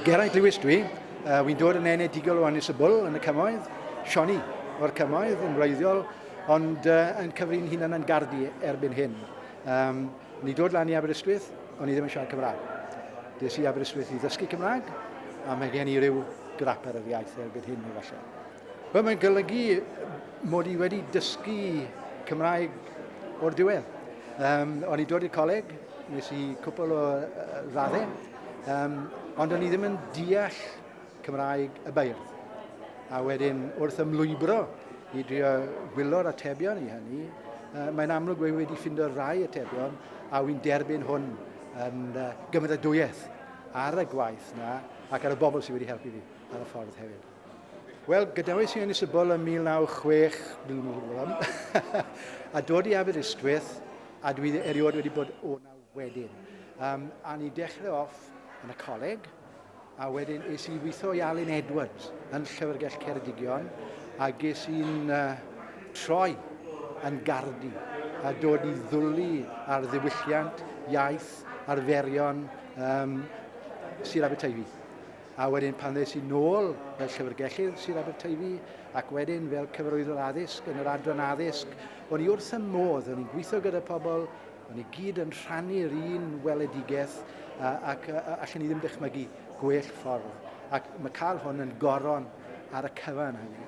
Geraint Lewis dwi, uh, wy'n dod yn enedigol o Anisybl yn y cymoedd, Sioni o'r cymoedd yn wreiddiol, ond uh, yn cyfrin hunan yn gardi erbyn hyn. Um, ni dod lan i Aberystwyth, o'n i ddim yn siarad Cymraeg. Des i Aberystwyth i ddysgu Cymraeg, a mae gen i ryw grap ar yr iaith erbyn hyn i falle. Wel, mae'n golygu mod i wedi dysgu Cymraeg o'r diwedd. Um, o'n i dod i'r coleg, nes i cwpl o uh, raddau, Um, ond o'n i ddim yn deall Cymraeg y beirdd. A wedyn, wrth ymlwybro i drio gwylo'r atebion i hynny, uh, mae'n amlwg wedi wedi ffindo rai atebion a wy'n derbyn hwn yn uh, gymeradwyaeth ar y gwaith na ac ar y bobl sydd wedi helpu fi ar y ffordd hefyd. Wel, gadawais i yn Isabel yn 1906, a dod i Aberystwyth, a dwi erioed wedi bod o nawr. wedyn. Um, a ni dechrau off yn y coleg, a wedyn es i weithio i Alun Edwards yn Llyfrgell Ceredigion, a ges i'n uh, troi yn gardi a dod i ddwlu ar ddiwylliant, iaith, arferion um, Sir Aberteifi. A wedyn pan ddes i nôl fel llyfrgellydd Sir Aberteifi ac wedyn fel cyfarwyddwr addysg yn yr adran addysg, o'n i wrth y modd, o'n i'n gweithio gyda pobl Maen nhw i gyd yn rhannu'r un weledigaeth ac allen ni ddim dychmygu gwell ffordd ac mae cael hwn yn goron ar y cyfan hynny.